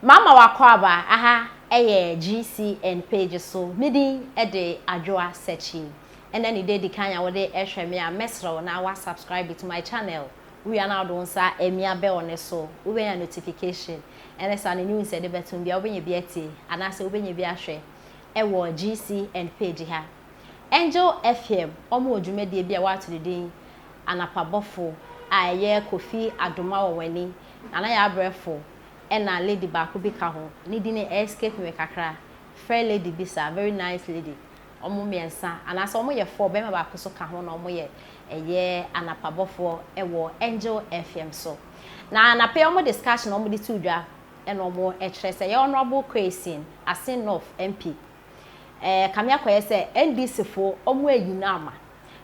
Mama w'akwaaba, aha yɛ GCN page so, me din de Adwoa Sekyi. Ɛnɛ ne da edi kan a wode rehwɛ me a, mɛsrɛ wo na wa subscribe to my channel. Wowie a na wode wo nsa amia bell no so, wobɛnya notification. Ɛne saa no news a yɛde bɛtom biara wobɛnya bi atie anaasɛ wobɛnya bi ahwɛ wɔ GCN page ha. Angel FM wɔn wɔ dwumadie bi a wɔato ne din Anapa Bɔfo a ɛyɛ Kofi Adomah wɔn ani, Nana Yɛabrɛfo, Ɛna lady baako bi ka ho, ne din no escape me kakra, fair lady bi saa, very nice lady, wɔn mmiɛnsa anaasɛ wɔn yɛ four, barima baako nso ka ho na wɔn yɛ ɛyɛ anapa bɔfoɔ wɔ Angel FM so. Na anapa yi wɔn discussion a wɔn de to dwa ɛna wɔn kyerɛ sɛ ɛyɛ Honourable Kwesi Assin North MP ɛɛ kame akɔyɛ sɛ NDC foɔ wɔn ayi no ama.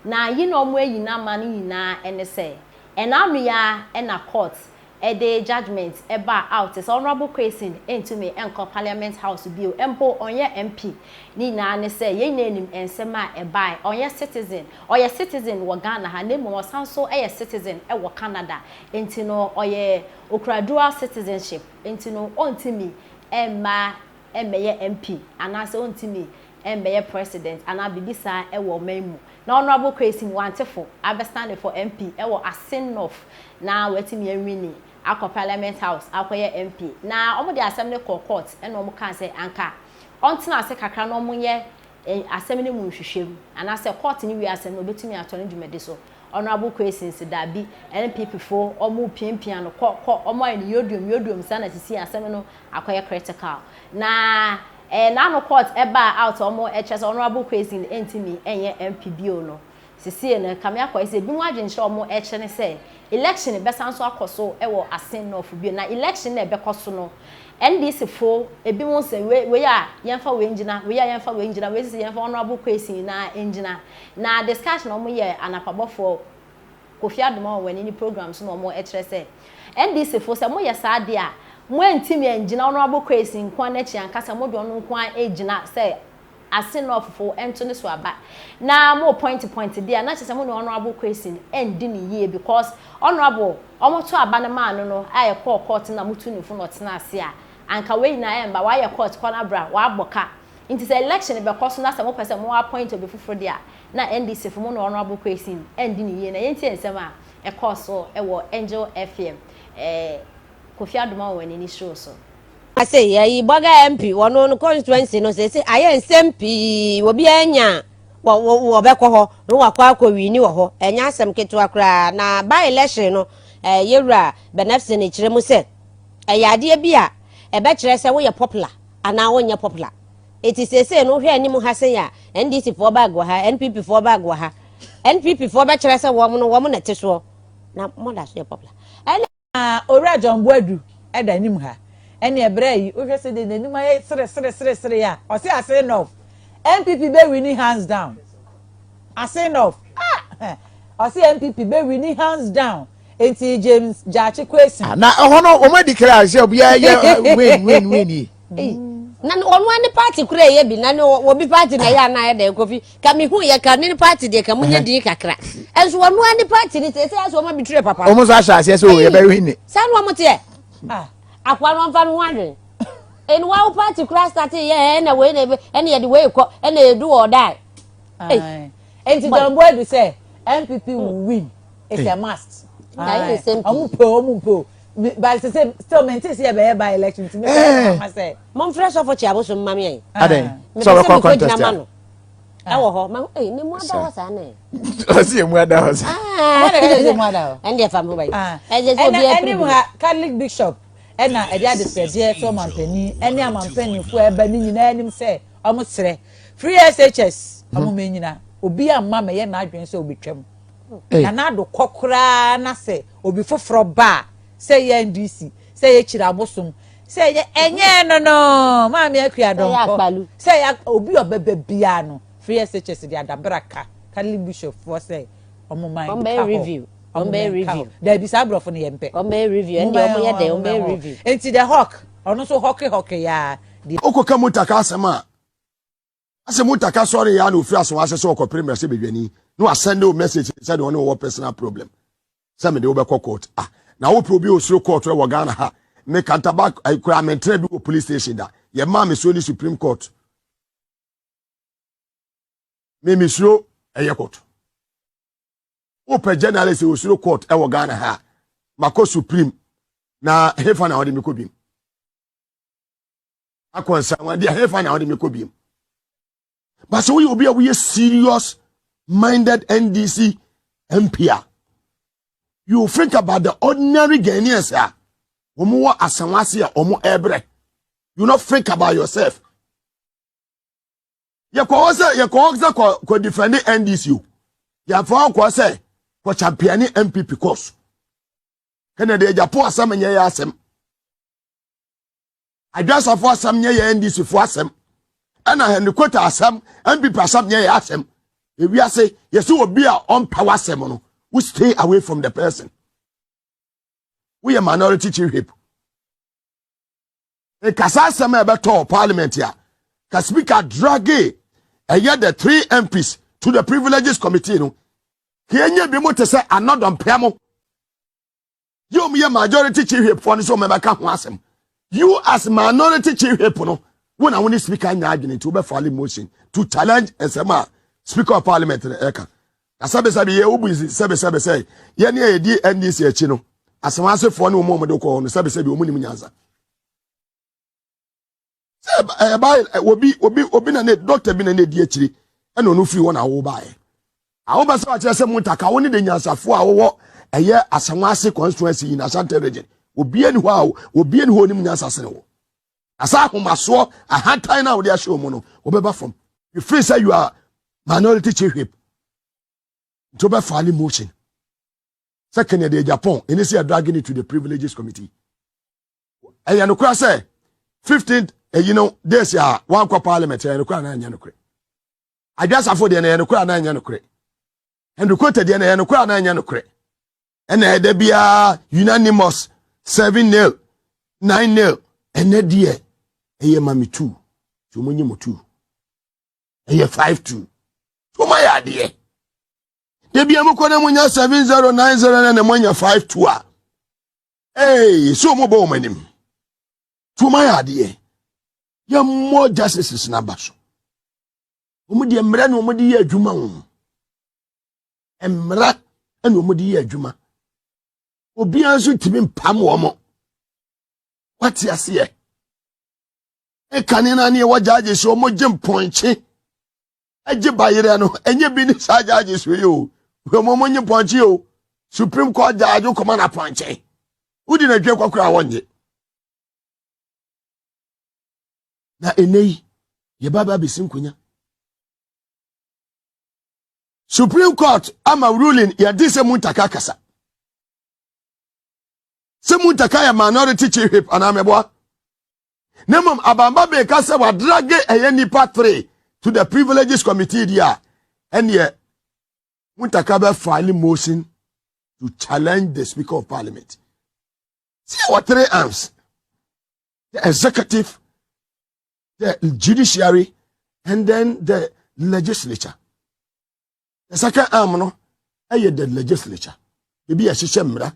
Na ayi na wɔn ayi no ama no nyinaa ɛne sɛ ɛna ano yi ara ɛna court ɛde judgement baa out sɛ Honourable Quayson ntumi nkɔ Parliament House bio, mpo ɔnyɛ MP, ne nyinaa ne sɛ yɛn nyinaa nim nsɛm a ɛbaeɛ, ɔnyɛ citizen, ɔyɛ citizen wɔ Ghana ha na mmom ɔsan nso yɛ citizen wɔ Canada, nti no ɔyɛ, ɔkura dual citizenship, nti no ɔntumi mma mmɛyɛ MP anaasɛ ɔntumi mmɛyɛ President anaa biribi saa wɔ ɔman mu, na Honourable Kwesim Wante fo abɛ stande for MP wɔ Asin North na watumi awini akɔ Parliament House akɔyɛ MP na wɔde asɛm no kɔɔ Court na wɔkaa sɛ anka ɔntena ase kakra na wɔnyɛ asɛm no mu nhwehwɛmu anaasɛ court no wie asɛm no ɔbɛtumi atoa ne dwumadi so. Honourable Kwesi se daabi, NPP foɔ wɔn repiapia no kɔ kɔ, wɔn ayɛ no yoduom yoduom saa na sisi asɛm no akɔyɛ critical. Na ɛyɛ n'ano court ɛbaa out a wɔn ɛkyerɛ sɛ Honourable Kwesi no ɛntumi ɛnyɛ MP bio no. Sesie no ɛkame akɔ ayɛ sɛ ebinom adwenkyerɛ a wɔn ɛkyerɛ ne sɛ election bɛsan nso akɔ so wɔ Asin North bio na election no a ɛbɛkɔ so no NDC fo ebinom nsɛ wei wei a yɛnfa wei ngyina wei a yɛnfa wei ngyina wei sɛ yɛnfa Honourable Kwesi nyinaa ngyina na discussion a wɔn yɛ anapa bɔfoɔ Kofi Adomawa wɔ ne ne program so na wɔn ɛkyerɛ sɛ NDC fo sɛ moyɛ saa deɛ a mo ɛntimi ɛngyina Honourable Kwesi nkoa n'akyi ankasa mo de ɔno nkoa ɛgyina sɛ ase na ɔfofo nto ne so aba na mo point point de a na kyesɛ mo ne honourable Kwesyn ndi no yie because honourable ɔmo to aba no maa no no a ɛkɔɔ court na mo tu no fo na ɔtena ase a anka wei nyinaa ɛmba wayɛ court kɔ na bra wabɔ ka nti sɛ election bɛkɔ so na sɛ mo pɛ sɛ mo appoint obi foforo de a na NDC fo mo ne honourable Kwesyn ndi no yie na yɛntie nsɛm a ɛkɔɔ so wɔ Angel FM ɛɛ Kofi Adomawo wɔn ani suro so. Ase yɛ yi bɔga MP wɔ no no constituency no sese ayɛ nsɛm pii obiara nya wɔ wɔ bɛkɔ hɔ no wakɔ akɔ wini wɔ hɔ ɛnyɛ asɛm ketewa koraa na by election no ɛɛ yɛwura Benefson ekyerɛ mu sɛ ɛyɛ adeɛ bi a ɛbɛkyerɛ sɛ woyɛ popular anaa wonyɛ popular eti sese no wohwɛ anim ha sɛn a NDC foɔ bag wɔ ha NPP foɔ bag wɔ ha NPP foɔ bɛkyerɛ sɛ wɔn no wɔn na ɛte soɔ na wɔn da so yɛ popular ɛna Ah Owura John Boadu da anim ha. Ɛneɛ brɛ yi wohwɛ sɛdeɛ n'anim ayɛ seresereseresere a, ɔse ase enough. NPP bɛ winni hands down. Ase enough. Ah! Ɔse NPP bɛ winni hands down. Enti James Gyakye Quayson. Ah na ɛhɔ no wɔn adi kra sɛ obiara yɛ win win win yi. Ei, na ne- ɔno ara ne party kora ɛyɛ bi na ne wɔ- wɔbi party na ɛyɛ anaa ɛdɛ kofi ka me hu yɛ ka ne ne party deɛ ka mo nyɛ din kakra ɛnso ɔno ara ne party ne sɛ ɛsɛ asɛ ɔma bi tirɛ papa wɔn nso ahyɛ aseɛ sɛ o Ei, yɛbɛwe ne saa na ɔmo teɛ Ah, akoa no ɔmfa no ho adwen ɛne wa wo party kora start yɛ ɛ, ɛna wei na ɛbɛ- ɛna yɛde wei kɔ ɛna yɛdu wɔ ɔdae Aye. Enti John Boadu sɛ MPP will win. It's a must. Aye, same Ɔmo pɛ o, ɔmo mpɛ o. but sɛ sɛ still mente sɛ yɛbɛyɛ by election nti mebɛyɛ mama sɛ momfrɛ sɔfo kye abosom ma me ɛ adɛn sɛ wɔbɛkɔ contest a ɛwɔ hɔ ma ei ne mu ada hɔ saa ne ɔsi emu ada hɔ saa ɛne deɛ fa me ho bayi ɛsɛ sɛ obi apiri bi catholic bishop ɛna ɛde adesrɛdeɛ to ɔmampanin ɛne amampaninfoɔ ɛba ne nyinaa anim sɛ wɔn srɛ free shs wɔn mɛ nyina obi ama mɛyɛ n'adwene sɛ obetwam na n'ado kɔ koraa na sɛ Obi foforɔ ba a, sɛ ɛyɛ NDC, sɛ ɛyɛ Kyiri Abosom, sɛ ɛyɛ ɛnyɛɛ no no, Maame Akua Donkor, sɛ ɛyɛ obi a ɔbɛba biara no, Free SHS de adabra ka Catholic Bishop foɔ sɛ wɔn mma nka hɔ, wɔn mma nka hɔ. Daabi, saa aborɔfo no yɛn pɛ. Momma yɛn hɔ, momma yɛn hɔ. Enti The Hawk, ɔno nso hɔke hɔke yaa deɛ. Wokɔka motor ka asɛm a, Ase mu taka sɔre ya na ofiri aso ase sɛ ɔkɔpere mmarahyɛ badwani na wasɛnde wo message sɛ deɛ ɔne wɔwɔ personal problem sɛ mede wobɛkɔ court ah na wopɛ obi osuro court wɔ Ghana ha me kantaba koraa mentra bi wɔ police station da yɛ maa me so ne supreme court me mesuro ɛyɛ court wopɛ journalist osuro court ɛwɔ Ghana ha makɔ supreme na hefa na ɔde me kɔ bim akɔ nsanwa deɛ hefa na ɔde me kɔ biem ba sɛ woyɛ obi a woyɛ serious minded ndc mp a you think about the ordinary ghanaians a wɔn wɔ asanwa ase a wɔn ɛbrɛ you no think about yourself yɛkɔ hɔ sɛ yɛkɔ hɔ sɛ kɔ kɔ defend ndc o yɛafa hɔ kɔ sɛ kɔ champion npp course ɛna deɛ gyapo asɛm nyɛ yɛ asɛm. Adwasafo asɛm nyɛ yɛ NDC fo asɛm. Ɛna Helicota asɛm, NPP asɛm nyɛ yɛ asɛm. Ewiase, yɛsi obi a ɔmpɛ w'asɛm no, wo stay away from the person. Woyɛ minority chief whip. Nkasa asɛm a ɛbɛtɔ parliament a, ka speaker drage ɛyɛ the three MPs to the privileges committee no. Kenya bi mo te sɛ anɔdɔmpea mo. yɛ wɔn yɛ majority chief whip fɔ no so wɔn bɛka ho asɛm you as minority chief whip no wɔn na wɔn ne speaker nyɛ adwene nti wɔbɛ file motion to challenge nsɛm a speaker of parliament no ɛka na sɛbisɛbi yɛ obu nsi sɛbisɛbi sɛ yɛn a yɛdi ndc akyi no asɛm asefoɔ ne wɔn a wɔn de kɔɔ no sɛbisɛbi wɔn nim nyansa. sɛ ɛba obi obi obi na ne dɔkta bi na ne di akyiri ɛna ɔno firi hɔ na awo baeɛ awo bɛ sɛ wakyerɛ sɛ mutaka wo ne de nyansafo a wɔwɔ ɛyɛ asanwa ase constituency yi na asante region obie ni hɔ a obie ni hɔ onim nyansa sene wo asa ahomasoɔ ahantan na wɔde ahyɛ wɔn no wɔbɛba fam you feel say you are minority chief whip nti wɔbɛfa ne motion sɛ kɛnɛ deɛ japan ɛne sɛ yɛdrage ne to the privileges committee ɛyɛ nokora sɛ 15 ɛyi no days a wankɔ parliament ɛyɛ nokora na ɛnyɛ nokorɛ adwasafo deɛ na ɛyɛ nokora na ɛnyɛ nokorɛ ɛnukota deɛ na ɛyɛ nokora na ɛnyɛ nokorɛ ɛna ɛda biara unanimous seven nail nine nail ɛnɛ deɛ ɛyɛ mami two tí wɔn nyɛ mo two ɛyɛ five two wɔn ayɛ adeɛ ebi emu kɔ na mo nya seven zero nine zero na na mo nya five two a ee sɛ ɔmɔbɔ wɔn anim tuoma yɛ adeɛ yɛmmɔ justices no aba so wɔn deɛ mmerɛ na wɔn de yɛ adwuma wɔn mmara na wɔn de yɛ adwuma obiara nso ntumi mpam wɔn wate aseɛ ɛkane no aneɛ wɔgyaagye sɛ wɔn gye mpɔnkye gye bayerɛ no ɛnyɛ bi ne saa gyaagye so yi o wɔn mo nye pɔnkye o supreme court gyaagye kɔma na pɔnkye wodi na dwe kɔkora a wɔnye na ɛnɛ yi yɛba ba bɛsi nkonya supreme court ama ruling yɛde sɛ mu ntaka kasa sɛ mu ntaka yɛ minority chief whip anaa mɛboa na mmom abamba bɛka sɛ wadrage ɛyɛ nipa three to the privileges committee di a ɛneɛ muntaka bɛ file motion to challenge the speaker of parliament sɛ wɔ three arms the executive the judiciary and then the legislature the second arm no ɛyɛ the legislature ebi ɛhyehyɛ mmara